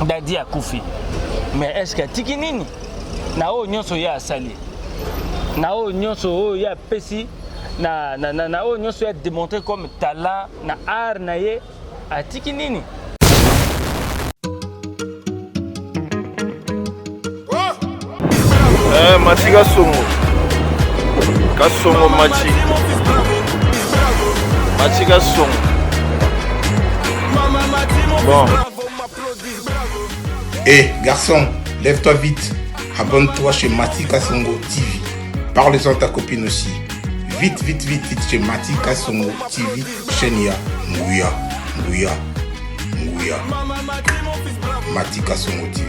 dadi akufi mais est ce que atiki nini na oyo nyonso ye asali na oyo nyonso oyo ye apesi na, na, na, na oyo nyonso ye ademontre comme talent na art na ye atiki nini Eh, mati kasongo kasongo mati mati kasongo bon Eh, garçon, lève-toi vite. Abonne-toi chez Mati Kasongo TV. Parle-en à ta copine aussi. Vite, vite, vite, vite chez Mati Kasongo TV. Chenia, Nguya, Nguya, Nguya. Mati Kasongo TV.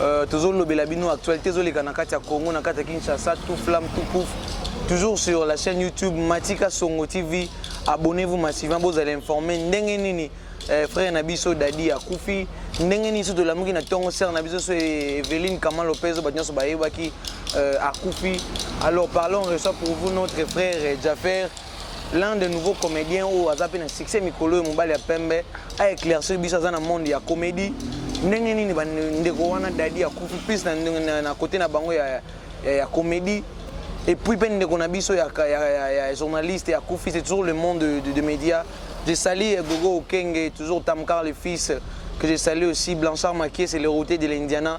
Euh, tozolobela bino actualité ezoleka na kati ya congo na kati ya kinshasa tout flamme tout pouf toujours sur la chaîne youtube matika songo tv abonnez-vous massivement bozala informe ndenge nini eh, frère na biso dadi akufi ndenge nini so tolamuki na ntongo sere na biso so e-, eveline kama lopez bato nyonso bayebaki euh, akufi alors parlons reçoit pour vous notre frère jafer l'un des nouveaux comédiens oyo aza mpe na succès mikolo oyo mobali ya pembe a éclaircir biso aza na monde ya comédie ndenge nini bandeko wana dadi akufi plus na, na, na kote na bango ya, ya, ya comédie et puis mpe ndeko na biso ya, ya, ya, ya journaliste ya kufi c'est toujours le monde de, de, de média je sali eh, gogo okenge toujours tamkar le fils que je salue aussi blanchard makie c'est le routier de l'indiana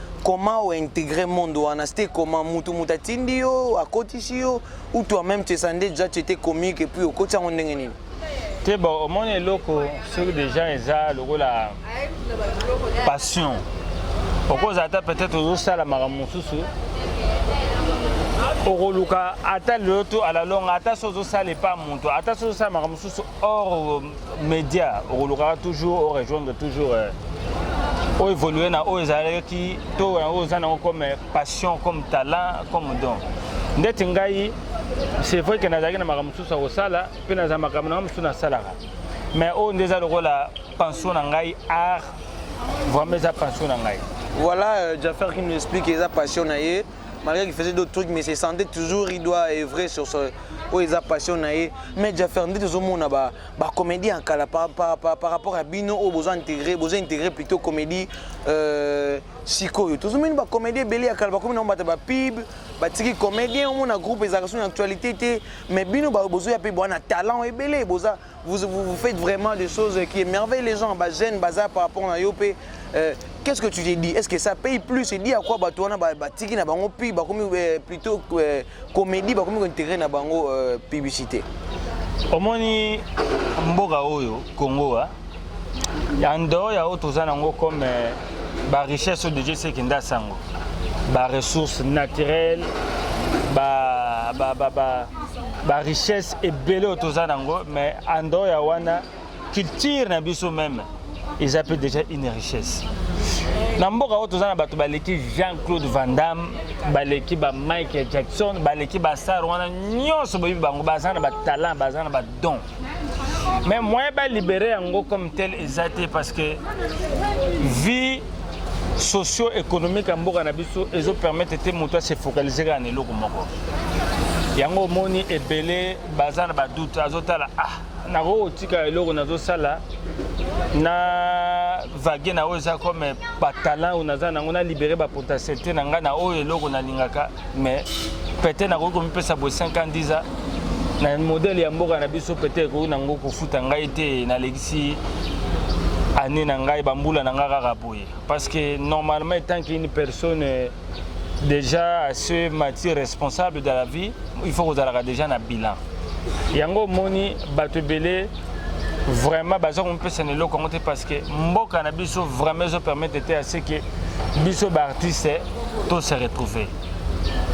comment o integrer monde wana c'était comment mutu mutu atindi yo akotisi yo ou toi même tu esande déjà tu étais comique et puis okotisi yango ndenge nini te bon omoni eloko soki déjà eza lokola passion okozala ata peut-être ozosala makambo mosusu okoluka ata lelo to alalonga ata so ozosala epa moto ata so ozosala makambo mosusu or euh, media okolukaka toujours o rejoindre toujours euh, o évolue na oyo ezalaki to yango oza nango comme passion comme talent comme don ndeti ngai c'est vrai ke nazalaki na makambo mosusu ya kosala mpe naza makambo na ngai mosusu nasalaka mais oyo nde eza lokola pension na ngai art vraiment eza pension na ngai voilà euh, jaffer qui nous explique eza passion na ye malgré qu'il faisait d'autres trucs mais se sentait toujours il doit œuvrer sur ce oyo eza passion na ye mais jaffer nde tozomona bacomédie ya kala par, par, par, par rapport ya bino oyo boza intégré boza intégré plutôt comédie euh, sikoyo tozomoni bacomédie ebele ya kala bakomi nango bata bapib batiki comédien omona groupe ezalaka so na actualité te mais bino bozoya mpe bwana talent ebele boza Vous, vous, vous faites vraiment des choses qui émerveillent les gens, bah, jeunes, bazar par rapport à Yopé. Euh, Qu'est-ce que tu t'es dit Est-ce que ça paye plus Il dit à quoi Batouana, Batiki, na bango, puis bah, comme, euh, plutôt euh, comédie, bah, comme intérêt na bango euh, publicité. Omoni mboka oyo Congo a hein. en dehors ya oyo toza nango comme euh, ba richesse oyo deje seki nda sango ba ressources naturelles ba ba ba, ba ba richesse ebele oyo toza nango mais en dehors ya wana culture na biso meme eza mpe déjà une richesse na mboka oyo toza na bato baleki jean claude van damme baleki ba michael jackson baleki bastar wana nyonso boyebi bango baza na batalent baza na badon mais moyen ba libérer yango comme tel eza te parce que vie socio-économique ya mboka na biso ezo permettre te moto ase focaliser kaka na eloko moko yango omoni ebele baza na badoute azotala ah nakoki kotika eloko nazosala na vage na oyo eza comme batalan oyo naza nango na libere bapotentialité na ngai na oyo eloko nalingaka mais peut-être nakoki komipesa boye 5 ans 10 ans na modèle ya mboka na biso peut-être ekoki nango kofuta ngai te nalekisi année na ngai bambula na ngai kaka boye parce que normalement etant qu'une personne euh, déjà à ce matière responsable de la vie il faut kozalaka déjà na bilan yango omoni bato ebele vraiment baza komipesa na eloko yango te parce que mboka na biso vraiment ezo permettre te ya ce que biso baartiste to se retrouver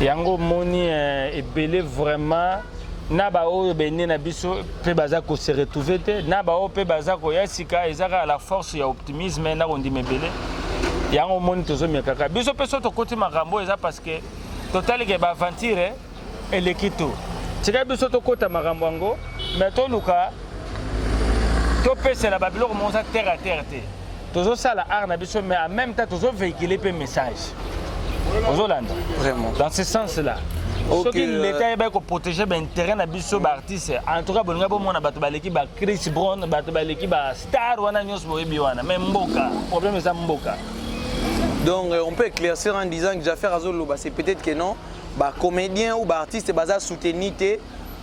yango omoni eh, ebele vraiment na baoyo bene na biso mpe baza kose retrouve te na baoyo mpe baza koya sika eza kaka la force ya optimisme na kondima ebele yango omoni tozomekaka biso mpe so tokoti makambo eza parce que totalike baaventure eleki tu tika biso tokota makambo yango me toluka topesela babiloko moko za terre à terre te tozosala art na biso mais en même temps tozovéhicule mpe message ozolanda vraiment dans ce sens là soki euh, leta ayebaki koprotege baintérêt na biso baartiste en tout cas bolinga bomona bato baleki ba chris brown bato baleki ba star wana nyonso boyebi wana mais mboka problème eza mboka donc euh, on peut éclaircir en disant que jaffaire azoloba c'est peut-être que non ba comediens ou ba artistes baza soutenu te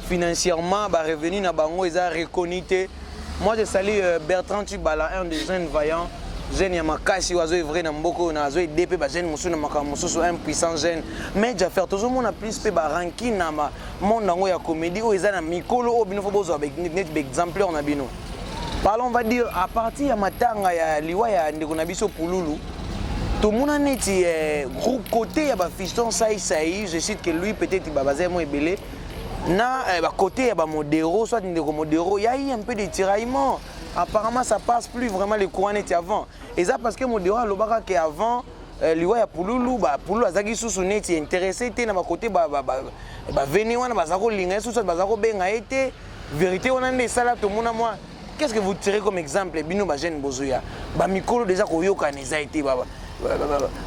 financièrement ba revenu na bango eza reconnu te moi je salue euh, Bertrand Tubala un des jeunes vaillants jeune ya makasi oyo azo evre na mboka oyo azo ede mpe bajeune mosusu na makambo mosusu un puissant jeune mais jaffer tozomona plus mpe baranki na monde yango ya comédie oyo eza na mikolo oyo bino fo bozwa neti baexempleur na bino Parlons, on va dire, à partir ya matanga ya liwa ya ndeko na biso Pululu, tomona neti eh, groupe côté ya bafiston sai sai je cite que lui peut-être babaza mo ebele na eh, bakote ya bamodero soit ndeko modero ya ye un peu de tiraillement apparemment ça passe plus vraiment le courant neti avant eza parce que modero alobaka ke avant eh, liwa ya pululu pululu azalaki susu neti intéressé te na bakote baveni wana baza kolinga ye susu baza kobenga ye te verite wana nde esala tomona mwa qu'est ce que vous tirez comme exemple bino bajeune bozoya bamikolo deja koyokana eza ete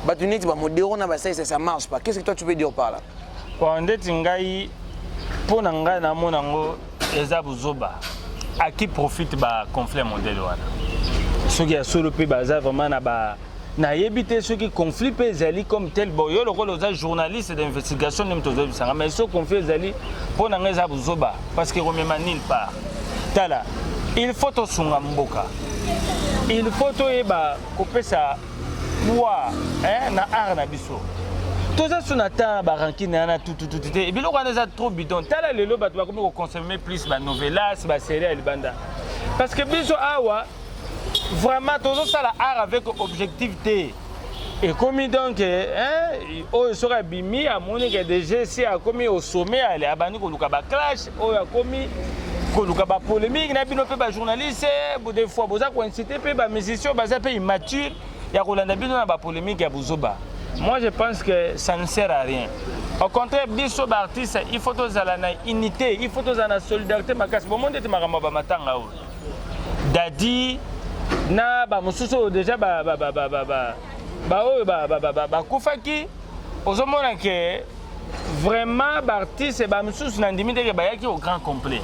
bato neti bamodero na basalisa ça marche pas qu'est ce que toi tu peux dire par là bon ndeti ngai mpo na ngai namona yango eza buzoba à qui profite ba conflit modèle wana soki ya solo mpe baza vraiment na ba nayebi te soki conflit mpe ezali comme tel bo yo lokola oza journaliste d'investigation nde moto ozoyebisanga mais so conflit ezali mpo na ngai eza buzoba parce que komema nil part tala il faut tosunga mboka il faut toyeba kopesa poids eh, na art na biso toza so na temps barankine wana tutututu te biloko wana eza trop bidon tala lelo bato bakomi koconsomme plus banovelas baserie ya libanda parce que biso awa vraiment tozo sala art avec objectif te ekomi donc hein, oyo soki abimi amoni ke dg si akomi au sommet ale abandi koluka baclash oyo akomi koluka bapolémique na bino mpe bajournaliste de fois boza koincite mpe bamusicien baza mpe immature ya kolanda bino na bapolémique ya buzoba moi je pense que ça ne sert à rien au contraire biso baartiste il faut tozala na unité il faut tozala na solidarité makasi bomoni ete makambo ya bamatanga oyo Daddy na ba mususu oyo deja ba ba ba ba ba ba ba oyo ba ba ba ba bakufaki ozomona ke vraiment baartiste ba misusu na ndimi ndeke bayaki au grand complet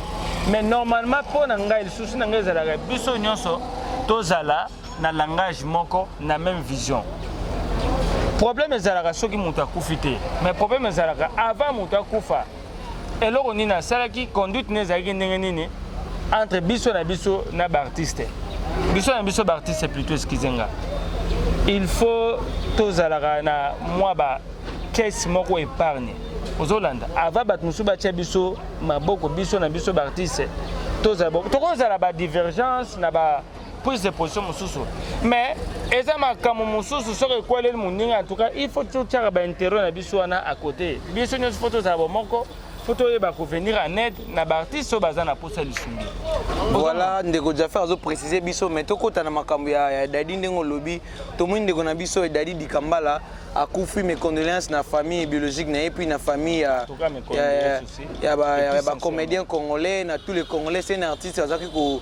mais normalement mpo na ngai lisusu na ngai ezalaka biso nyonso tozala na langage moko na même vision problème ezalaka soki moto akufi te mais problème ezalaka avant moto akufa eloko nini asalaki conduite ne ezalaki ndenge nini entre biso na biso na baartiste biso na biso baartiste plutôt eskize nga il faut tozalaka na mwa ba caisse moko épargne ozolanda ava bato mosusu batya biso maboko biso na biso baartiste tokozala badivergence na ba prise de position mosusu mais eza makambo mosusu soki ekweleli moninga en tout cas il faut totyaka bainterêt na biso wana à côté biso nyonso fo tozala bomoko fo toyeba kovenir en aide na baartiste oyo baza na mposa lisungi voilà ndeko jaffer azoprécise biso mais tokɔta na makambo ya, ya dadi ndenge olobi tomoni ndeko na biso edadi dikambala akufi mes condoléances na famille biologique na ye puis na famille ya, ya, ya, ya, ya bacomédien congolais na tous les congolais c'est un artiste azalaki ko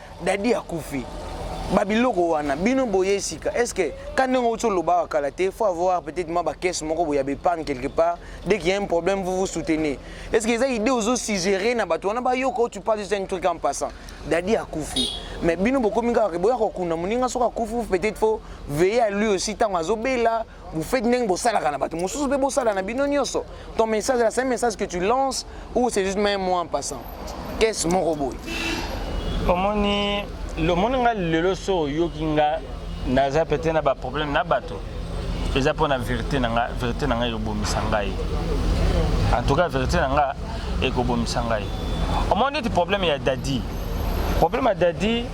Dadi akufi. Ba biloko wana bino boye sika. Est-ce que quand ndenge ozo loba kala te, faut avoir peut-être ma ba caisse moko boya be panne quelque part. Dès qu'il y a un problème, vous vous soutenez. Est-ce que ça idée ozo suggérer na bato wana ba yoko tu parles juste un truc en passant. Dadi akufi. Mais bino bokomi kaka boya ko kuna muninga soka kufu peut-être faut veiller à lui aussi tango azo bela Vous faites ndenge bosalaka na bato mosusu mpe bosala na bino nyonso. Ton message là, c'est un message que tu lances ou c'est juste même moi en passant. Qu'est-ce mon robot? Omoni lomoni nga lelo so oyoki nga naza peut-être na ba problème na bato. Eza mpo na vérité na nga, vérité na nga ekobomisa ngai. En tout cas vérité na nga ekobomisa ngai. Omoni neti problème ya Daddy. Problème ya Daddy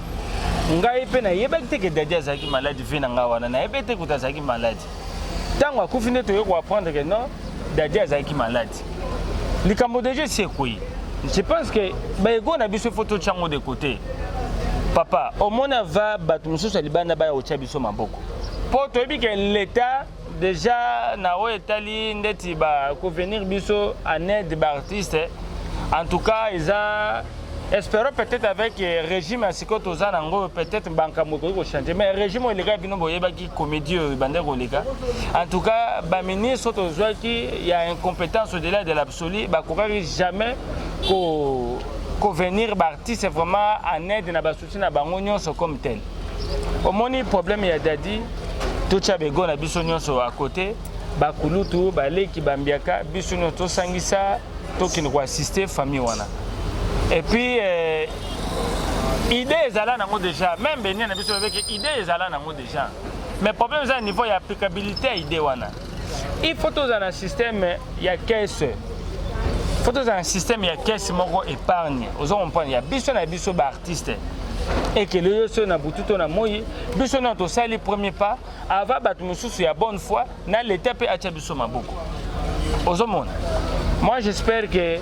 ngai mpe nayebaki te ke dadi azalaki maladi vie na ngai wana nayebi te kuta azalaki maladi ntango akufi nde toye koapprendre ke non dadi azalaki maladi likambo deja esi ekwei je pense ke baego na biso ifo totya ngo de kote papa omona va bato mosusu ya libanda baya kotya biso maboko mpo toyebi ke leta deja na oyo etali ndeti ba ko venir biso en aide ba artistes en tout cas eza espérons peut-être avec euh, régime ya sikoyo toza na yango peut-être bankambo ekoki kochange mais régime oyo elekaki bino boyebaki comédie oyo ebanda koleka en tout cas baministre oyo tozwaki ya incompétence au-delà de l'absolu bakokaki jamais ko kovenir baartiste vraiment en aide na basu Souci na bango nyonso comme tel. Omoni problème ya Dadi totya bego na biso nyonso à côté bakulutu baleki bambiaka biso nyonso tosangisa tokende koassiste famille wana et puis euh, idée ezala nango déjà même benia na biso babeke idée ezala nango déjà mais problème eza na niveau ya applicabilité ya idée wana il faut tozala na système ya caisse faut tozala na système ya caisse moko épargne ozo comprendre ya biso na biso baartiste ekele yo soki na butu to na moi biso nao tosali premier pas ava bato mosusu ya bonne foi na leta mpe atya biso maboko ozomona moi j'espère que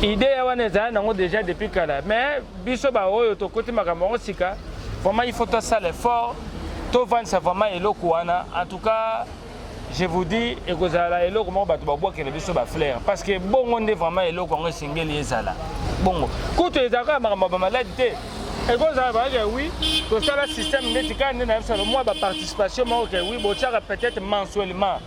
idée ya wana ezali nango déjà depuis kala mais biso baoyo tokoti makambo yango sika vraiment il faut tosala effort tovandisa vraiment eloko wana en tout cas je vous dis ekozala eloko moko bato babwakela biso bafleur parce que bongo nde vraiment eloko yango esengeli ezala bongo kutu ezalaka ya makambo ya bamaladi te ekozala bayeke wi tosala système ndeti kaka nde na biso mwa baparticipation moko ke wi botyaka peut-être mensuellement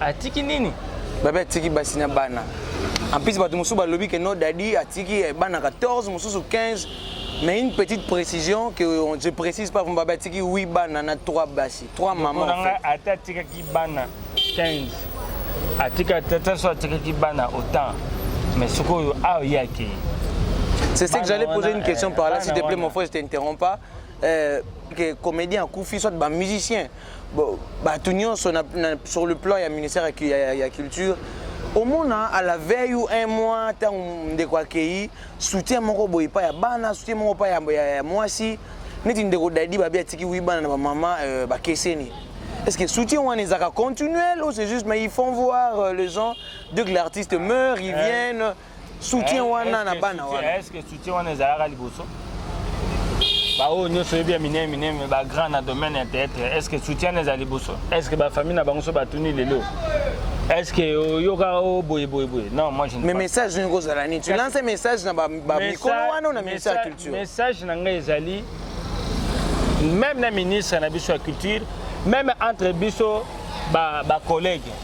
atiki nini babe atiki basi na bana en plus bato mosusu balobi ke no dadi atiki eh, bana 14 mosusu 15 mais une petite précision que on, je précise pas vumba babe atiki 8 bana na 3 basi 3 maman en fait. ata atikaki bana 15 atika ata so atikaki bana autant mais sikoyo awa ye akei c'est ce que j'allais poser une question par là eh, s'il te plaît mon frère je t'interromps pas euh, que comédien akufi soit ba musicien Bon, bato nyonso na, na, sur le plan ya ministère ya, ya, ya culture omona à la veille ou un mois ntango ndeko akei soutien moko boye epai ya bana soutien moko epai ya, ya, ya mwasi neti ndeko dadi babi atiki wi bana na bamama euh, bakeseni Est-ce que soutien one est continuel ou c'est juste mais ils font voir euh, les gens dès que l'artiste meurt ils viennent soutien eh, wana na bana wana est-ce que soutien wana ezalaka liboso baoyo nyonso oyebi ya minene minene bagrand na domaine ya théâtre est ce que soutien wana eza liboso est ce que bafamille na bango so batuni lelo est ce que oyoka o boye boye boye non moi je mais message nini kozala nini tu lance message na bamikolo wana na ministre ya culture message na ngai ezali même na ministre na biso ya culture même entre biso bacollègue ba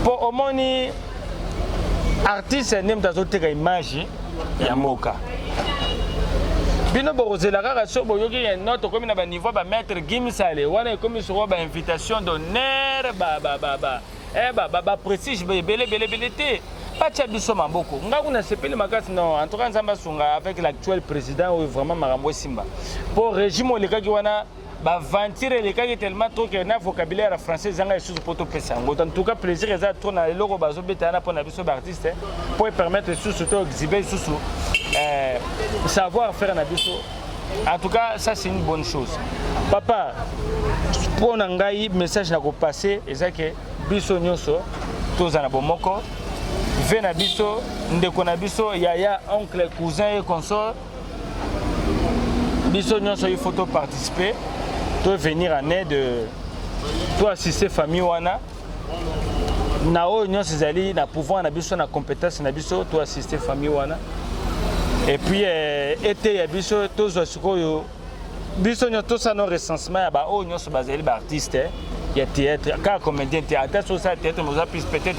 mpo omoni artiste nde moto azoteka image ya mboka bino bokozela kaka so boyoki ya no tokomi na baniveau bamaître gimsale wana ekomi soko bainvitation d'honneur eh, baprestige ebele belebele te batya biso maboko ngai kuna sepeli makasi no en tout cas nzambe asunga avec l'actuel président oyo vraiment makambo esimba mpo régime olekaki wana ba venture elekaki tellement trop que na vocabulaire ya français ezanga lisusu mpo topesa yango en tout cas plaisir eza trop na eloko bazobeta wana mpo na biso baartiste mpo epermettre lisusu to exhibe lisusu eh, savoir faire na biso en tout cas ça c'est une bonne chose papa mpo na ngai message na kopasse eza ke biso nyonso toza na bomoko ve na biso ndeko na biso yaya oncle cousin ye consort biso nyonso il faut to participer to venir en aide euh, to assister famille wana na oyo nyonso ezali na pouvoir na biso na compétence na biso to assister famille wana et puis euh, eteya biso tozwa sikoyo biso nyonso tosala no recensement ya baoyo nyonso bazali baartiste eh, ya théâtre kaka comédien te ata soki osala théâtre mais oza plus peut-être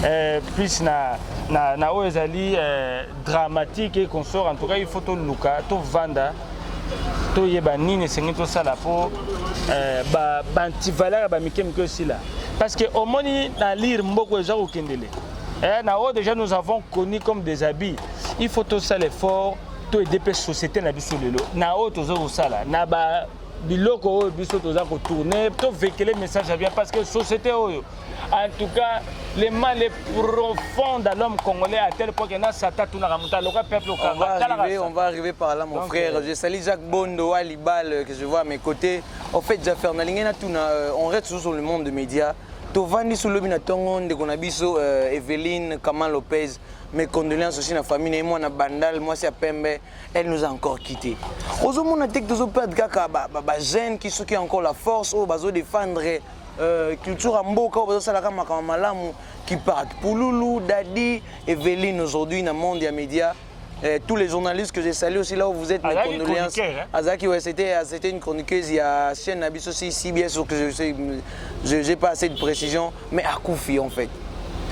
euh, plus na, na, na oyo ezali euh, dramatique et consort en tout cas il faut toluka tovanda toyeba nini esengeli tosala mpo eh, bantivaleur ya bamike mike osila parce que omoni na lire mboko eza kokendele eh, na oyo déjà nous avons connu comme des habits il faut tosala effort to aide mpe société na biso lelo na oyo toza kosala na ba biloko oyo biso toza kotourne tovekele message ya bien parce que société oyo En tout cas, le mal est profond dans l'homme congolais à tel point que na sata tout na muta loka peuple au On va arriver, on va arriver par là mon Donc, frère. Euh... Je salue Jacques Bondo à Libal euh, que je vois à mes côtés. En fait, Jaffer Nalingena Tuna, euh, on reste toujours sur le monde des médias. tovandi so lobi na ntongo ndeko na biso euh, eveline kama lopez mes condoléances aussi na famille na ye mwana bandal mwasi ya pembe elle nous a encore quitté ozomona te ke tozoperdre kaka bajeune ba, ba ki soki encore la force oyo bazodefendre Euh, culture ya mboka oyo bazosalaka makambo malamu kipak pululu dadi eveline aujourd'hui na monde ya média Eh, tous les journalistes que j'ai salués aussi là où vous êtes, mes Azaki condoléances. chroniqueur, hein. Azaki, ouais, c'était, euh, c'était une chroniqueuse, il y a chaîne Abyss aussi, CBS, sauf que je sais, je- j'ai pas assez de précision, mais à Koufi en fait.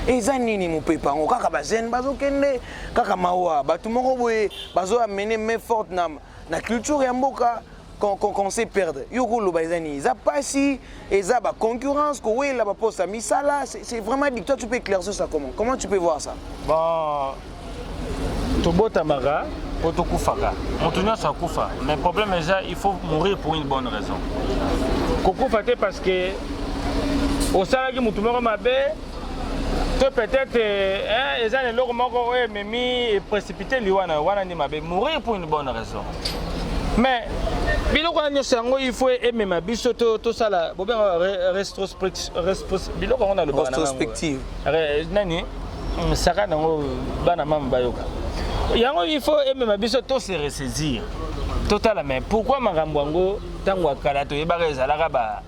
eza nini mopepe yango kaka bajeune bazokende kaka mawa bato moko boye bazoamene main forte na, na culture ya mboka qu'on qu qu sait perdre yo okoloba eza nini eza mpasi eza baconcurrence kowelela baposte ya misala c'est vraiment dit toi tu peux éclaircir ça comment comment tu peux voir ça bon tobotamaka mpo tokufaka moto nyonso akufa mais problème eza il faut mourir pour une bonne raison kokufa te parce que osalaki motu moko mabe to peut-être eh, eza na eloko moko oyo ememi eprécipité liwa na yo wana nde mabe mourir pour une bonne raison mais biloko wana nyonso yango il faut emema biso tosala bobenga biloko yango nalobanaprospective nani mm, saka nango bana mama bayoka yango il faut emema biso to se ressaisir totala mais pourquoi makambo yango ntango ya kala toyebaka ezalaka ba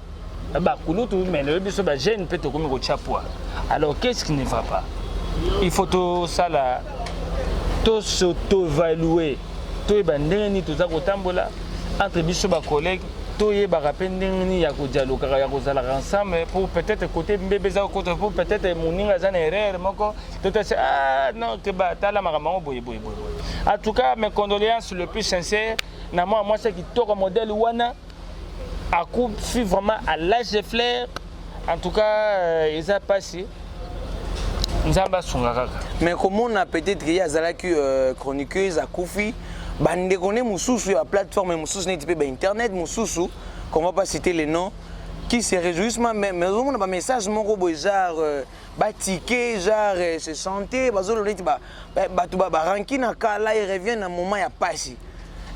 bakulutu mais lelo biso bajeune mpe tokomi kotya poids alors qu'est-ce qui ne va pas il faut tosala tosotoevalue toyeba ndenge nini toza kotambola entre biso bacollègue toyebaka mpe ndenge nini ya kodialogaka ya kozalaka ensemble pour peut-être côté mbebe eza kokota pour peut-être moninga aza na erreur moko totase ah non keba tala makambo yango boye boye boye en tout cas mes condoléances le plus sincère na mwana mwasi ya kitoko modèle wana akufi vraiment à l'âge de fleur en tout cas euh, eza mpasi nzambe asunga kaka mais komona peut-être ye azalaki euh, chroniqueuse akufi bandeko nde mosusu ya plateforme mosusu neti mpe bainternet mosusu qu'on va pas citer les noms qui se réjouissent même mais ozomona bamessage moko boye genre euh, ba ticket genre se sentait bazolo neti ba bato ba baranki na kala il revient na moment ya pasi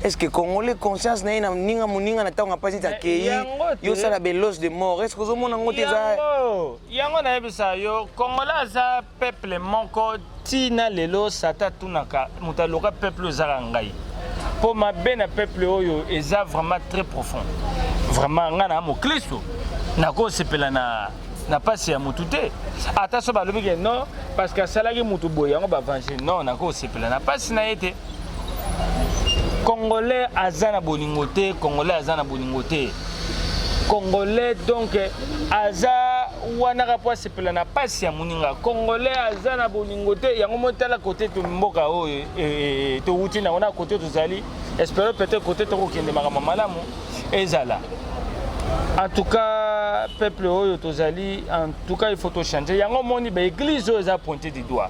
est ce que congolais conscience na ye na ninga moninga na ntango ya pasi ti akei yosala belos de mort est ce que ozomona yango te eza yango nayebisa yo congolais aza peuple moko ti na lelo sata atunaka moto aloka peuple oyo ezaka ngai mpo mabe na peuple oyo eza vraiment très profond vraiment ngai na moklisto nakosepela na na mpasi ya motu te ata so balobi ke non parce que asalaki motu boye yango bavange non nakosepela na mpasi na ye te Congolais aza na bolingo te, Congolais aza na bolingo te. Congolais donc aza wana ka po asepela na pasi ya moninga. Congolais aza na bolingo te, yango motala kote to mboka oyo e, e, e, e towuti na wana kote tozali. Espero peut-être kote tokokende makambo malamu ezala. En tout cas, peuple oyo tozali, en tout cas il faut to changer. Yango moni ba église oyo eza pointe du doigt.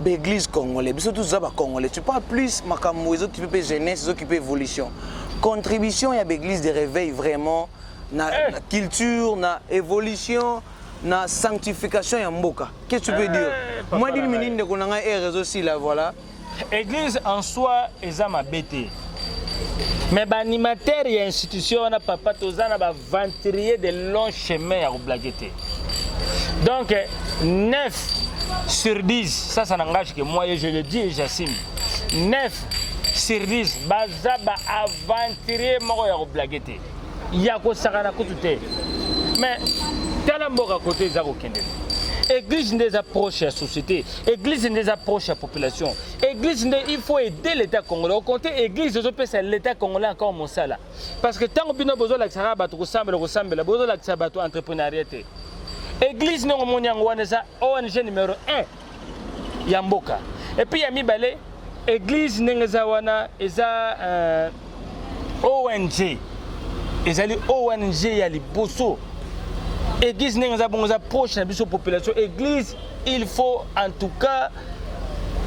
ba église congolais biso tous ba congolais tu parles plus makambo ezo kipe pe jeunesse ezo kipe évolution contribution ya ba église de réveil vraiment na, eh. na culture na évolution na sanctification ya mboka qu'est-ce que tu veux eh, dire eh, moi dini minini ndeko na ngai ere ezosila voilà église en soi eza mabe te mais baanimateur ya institution wana papa toza na venturier de long chemin ya koblage te donc 9 sur 10 ça ça n'engage que moi et je le dis et j'assume 9 sur 10 baza ba aventurier moko ya koblage te ya kosakana kutu te mais tala mboka kote eza kokende église nde eza proche ya société église nde eza proche ya population église nde il faut aider l'état congolais okonte église ezopesa l'état congolais encore mosala parce que ntango bino bozolakisa kaka bato kosambela kosambela bozolakisa bato entreprenariat te église ndenge omoni yango wana eza ong numero 1 ya mboka epuis ya mibale église ndenge eza wana eza euh, ong ezali ong ya liboso église ndenge eza bongo eza proche na biso population église il faut en tout cas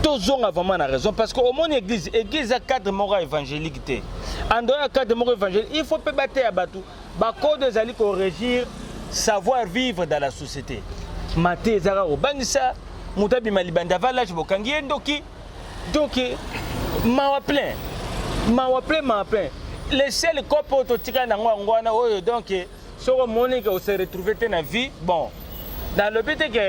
tozonga vraiment na raison parce que omoni église église ya cadre moko ya évangélique te andoi ya cadre moko évangélique il faut mpe bateya bato bakode ezali korégir savoir vivre dans la société mate ezaka kobangisa moto abima libanda avalage bokangi ye ndoki donc mawa plein mawa plein mawa plein le seul cope oyo totikali nango yango wana oyo donc soki omoni ke ose retrouve te na vie bon nalobi te ke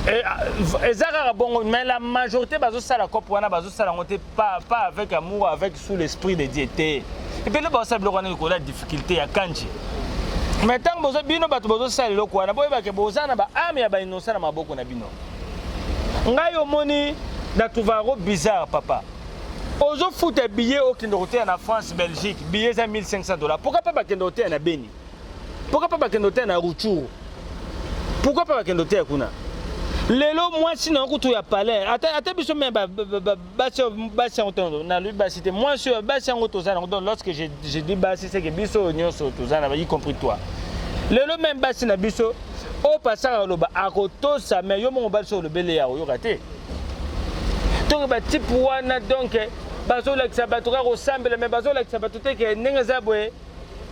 eh, ah, eza kaka bongo mais la majorité bazosala cope wana bazosala yango te pas avec amour avec sous l'esprit de dieu te epele baosala biloko wana likolo ya difficulté ya kanji mais ntango bozo bino bato bozosala eloko wana boyebake boza na baame ya bainosa na maboko na bino ngai omoni na trouva yango bizarre papa ozofuta billet okende koteya na france belgique billet eza 1500 dollars pourquoi pas bakende koteya na beni pourquoi pas bakende koteya na ruchuru pourquoi pas bakende koteya kuna lelo mwasi na kutu ya palais ata, ata biso me basi yango to nalobi basi te mwasi oyo basi yango toza nango donc lorsque je, je dis basi seke biso oyo nyonso toza na y compris toi lelo meme basi na biso oyo pasaka oloba akotosa me yo moko basi olobeli ya koyoka te toke ba type wana donc bazolakisa bato kaka kosambela mais bazolakisa bato te ke ndenge eza boye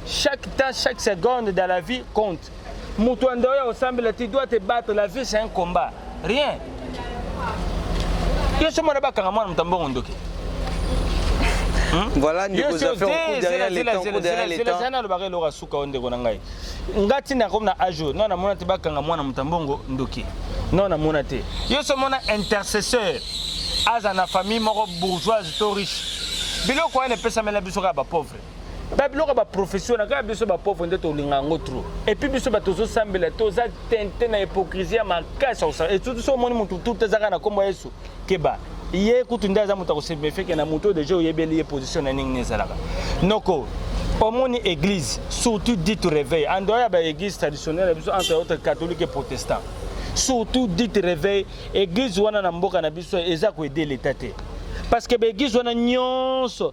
chaque temps chaque seconde dans la vie compte moto ya ndao ya kosambela tu dois te battre la vie c'est un combat rien yo somo na bakanga mwana moto ya mbongo ndoki Hmm? voilà ndeko zafeokuderrière le temps oderrière le temps nalobaka eloko ya suka oyo ndeko na ngai nga ti na comme na age oyo no namona te bakanga mwana moto ya mbongo ndoki no namona te yo so omona intercesseur aza na famille moko bourgeoise to riche biloko wana epesamela biso kaka bapauvre ba biloko ya baprofession na kaka biso bapauvre nde tolinga yango trop epuis biso bato tozosambela toza tente na hypocrisie ya makasi esutu so omoni motu tuta ezaka na nkombo ya yesu keba ye kutu nde aza moto akosemefeke na moto oyo deja oyebeli ye position na ndenge ezalaka noko omoni église surtout dit réveil en dehors ya baéglise traditionnelle ya biso entre autres catholique et protestant surtout dit réveil église wana na mboka na biso eza koede leta te parce que baéglise wana nyonso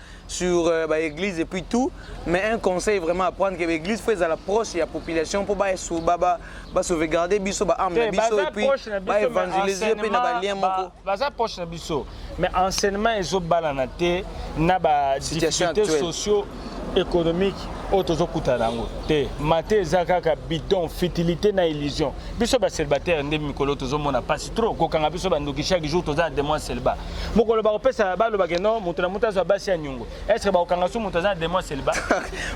sur euh, ba église et puis tout mais un conseil vraiment à prendre que ba église faut ezala proche ya population pour ba ba ba, ba sauvegarder biso ba âme na biso et puis ba évangéliser pe na ba lien moko baza proche na biso mais enseignement ezo balana te na ba difficultés sociaux économique oyo tozokutana yango te mate eza kaka bidon fitilité na illusion biso bacélibataire nde mikolo tozomona mpasi trop kokanga biso bandoki chaque jour toza na demon selba mokolo bakopesa baloba ke non moto na moto azwa basi ya nyongo est ce que bakokanga so moto aza na demon selba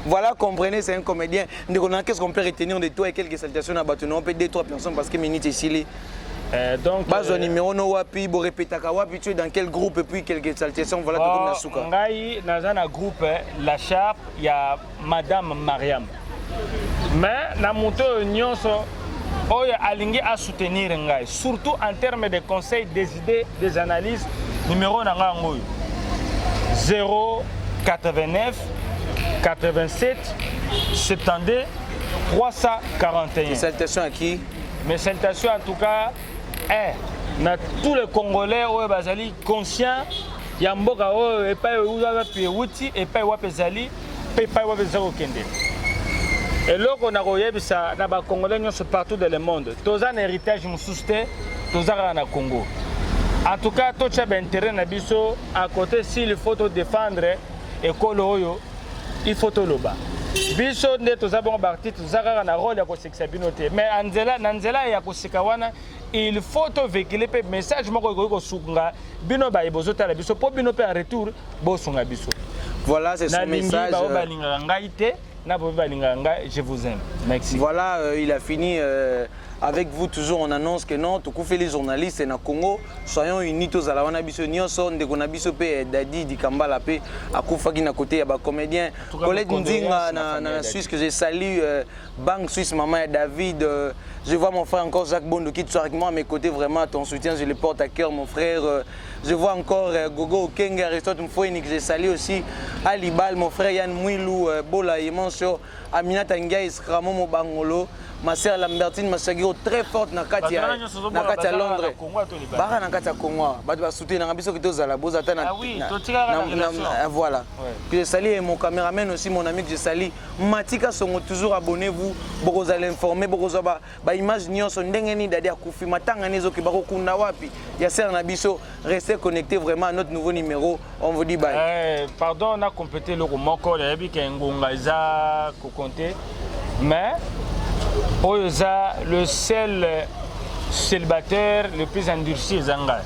voilà comprenez c'est un comédien ndeko na qu'est ce qu'on peut retenir de toi et quelques salutations na bato na yo mpe deux trois personnes parce que minute esili Euh, donc bazwa euh, numéro no wapi borepetaka wapi tu es dans quel groupe et puis quelques salutations voilà tokomi na suka ngai naza na groupe la sharp ya madame mariam mais na moto oyo nyonso oyo alingi asoutenir ngai surtout en terme de conseil des idées des analyses numéro na ngai yango oyo 089 87 72 341 salutation à qui mes salutations en tout cas eh, na tous les congolais oyo bazali conscient ya mboka oyo epai oyo wapi euti epai wapi ezali mpe epai wapi toza kokende eloko na koyebisa na bacongolais nyonso partout de le monde toza na héritage mosusu te toza kaka na congo en tout cas totya baintérêt na biso à côté s'il faut todefendre ekolo oyo il faut toloba biso nde toza bongo baartiste toza kaka na role ya kosekisa bino te mais na nzela ya koseka wana il faut to vehicule mpe message moko ekoki kosunga bino baye bozotala biso mpo bino mpe en retour bosunga biso voilà c'est son message euh, balingaka ngai te na boye balingaka ngai je vous aime merci voilà euh, il a fini euh... avec vous toujours on annonce que non tokufeli les journalistes na congo soyons unis tozala wana biso nyonso ndeko na biso mpe dadi dikambala mpe akufaki na kote ya bacomédien colette nzinga na, na, na suisse que je salue euh, Bang Suisse, maman et David, euh, je vois mon frère encore Jacques Bondo qui soit avec moi à mes côtés, vraiment ton soutien, je le porte à cœur mon frère. Euh, je vois encore euh, Gogo Kenge, Aristote Mfouini que j'ai salué aussi, Ali Bal, mon frère Yann Mouilou, euh, Bola Yemancho, Aminata Ndiaye, Skramo Mobangolo, ma sœur Lambertine Masagiro, très forte na kati ya na kati ya Londres. Bara na kati ya Congo, bato ba soutenir na biso que tozala bozata na Ah oui, totika na voilà. Puis je salue mon caméraman aussi mon ami que je salue Matika Songo toujours abonnez-vous bokozala informe bokozwa ba, ba image nyonso ndenge nini dadi akufi matanga ni ezoki bakokunda wapi ya sere na biso restez connecté vraiment à notre nouveau numéro on vous dit bye eh, pardon na complété eloko moko nayebi ke ngonga eza kokonte mais oyo eza le seul célibataire le plus endurci eza ngai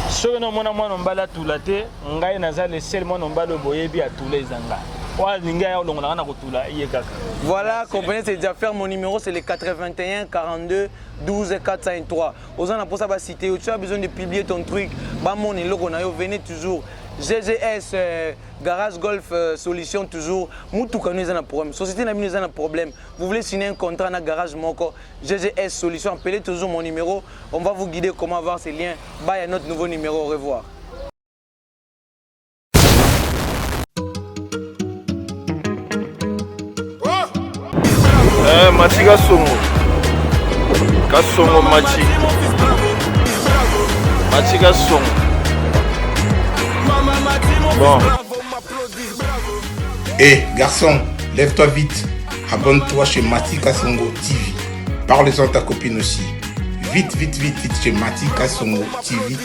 soki nomona mwana mobali atula te ngai naza le seul mwana mobali oyo boyebi atula eza nga oyo alingi aya olongolanga na kotula ye kaka voilà comprenez c'est déjà faire mon numéro c'est le 81 42 12 403 oza na mposa basite yo tu as besoin de publier ton truc bamona eloko na yo venez toujours GGS euh, Garage Golf euh, Solution toujours mutuka nous un problème société n'a nous un problème vous voulez signer un contrat na garage moko GGS Solution appelez toujours mon numéro on va vous guider comment avoir ces liens bye à notre nouveau numéro au revoir Eh, mati kasongo kasongo mati mati kasongo bon hey, eh, garçon lève-toi vite abonne-toi chez mati kasongo tv parle-en ta copine aussi vite vite vite vite chez mati kasongo tv